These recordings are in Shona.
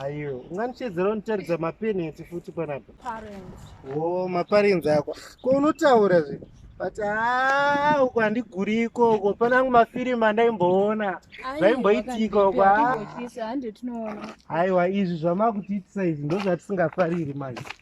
Ayo, unganichedzera unitaridza mapeneti futi panapa. Parents. Oh, maparents ako. Ko unotaura zve. But ah, uko handiguriko uko pana angu mafirimu andaimboona. Zvaimboitika uko. Hande tinoona. Aiwa, izvi zvamakuti itisa izvi ndozvatisingafariri manje.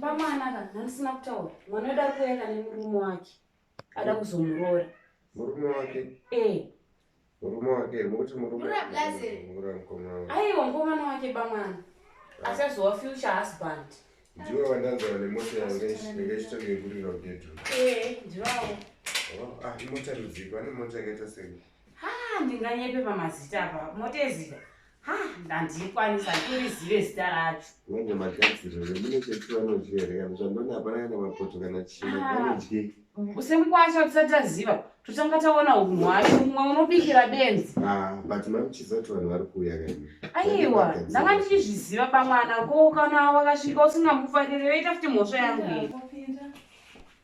bamanaka ndandisina kutaura mwana wedu ari kuenda nemurume wake ada kuzomuroora murume wake ee murume wake mukuti murumeaiwa mukomana wake bamwana ah. achazowa future husband ndiwe wandanzara nemota yange ichitonge kurira kudedru ee ndivawo oh, ah, imota rudziko ane mota yakaita sei Ha ndinganyepe pamazita apa motezita ha ndandikwanisa ndikurizive zita racho manje magadziro remune chetivanozvihereka zvandona hapana kana mapoto kana chino vanodye semukwasha tisati taziva totanga taona unhu hwacho mumwe unobikira benzi ah, but mamuchiziva kuti vanhu vari kuuya kani aiwa ndanga ndichizviziva pamwana ko kana wakasvika usingamufarire yoita futi mhosva yangu iyi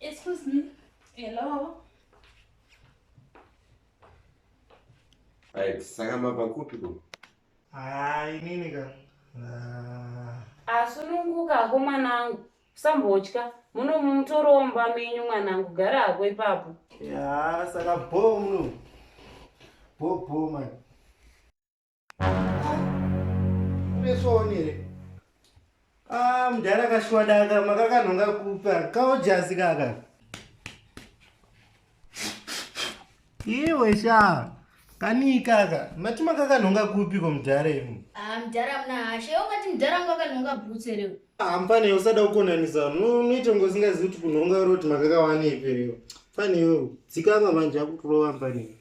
Excuse me. Hello. Right, saka mabva kupi ko? Ah, inini ka. Ah. Asununguka hako mwanangu. Usambotya. Muno mutoromba menyu mwanangu gara hako ipapo. Ya, saka bho muno. Bho bho mani. Unesonere. Ah, mdara kashwadaka makakanhonga kupa kaojazi kaka. Iwe shaa. kani kaka mati makakanhonga kupi ko mudhara imi ah, mudhara muna hashe ungati mudhara wangu akanhonga bhutse reo hampane ah, usada kukonanisa unoita kunge usingazivi kuti kunhonga roti makakawanepi reo fane iwewo dzikama manje akukurova mpane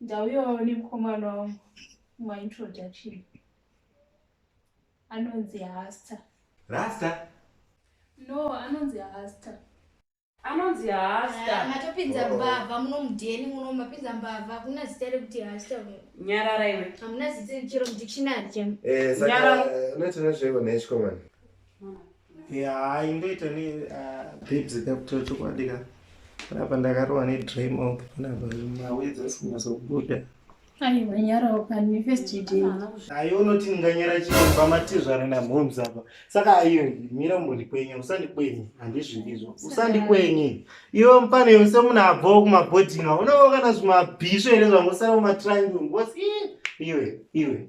Ndauyawo nemukomana wangu maintroduction anonzi hasta rasta no anonzi hasta anonzi hasta ah, matopinza oh. mbavha muno mudheni muno mapinza mbavha hakuna zita rekuti hasta nyarara iwe hamuna zita chero mudictionary chemnyarara eh, eh, unoitona zveiko nechikomana Yeah, ingoita ne uh, babes kapto chokwadi ka panapa ndakarowa ne dry mouth panapa mawedzi asikunyasobuda aiwa nyarawo kani first day ayo unoti ndinganyara chii pamatizvara namhoms apa saka ayo mira umbondikwenye usandikwenye handizvindizvo usandikwenye iwe mupane yose munhu abvawo kumabhoding a unovo kana zvimabhisvo here zvangosara mumatrangi ngosi iwe iwe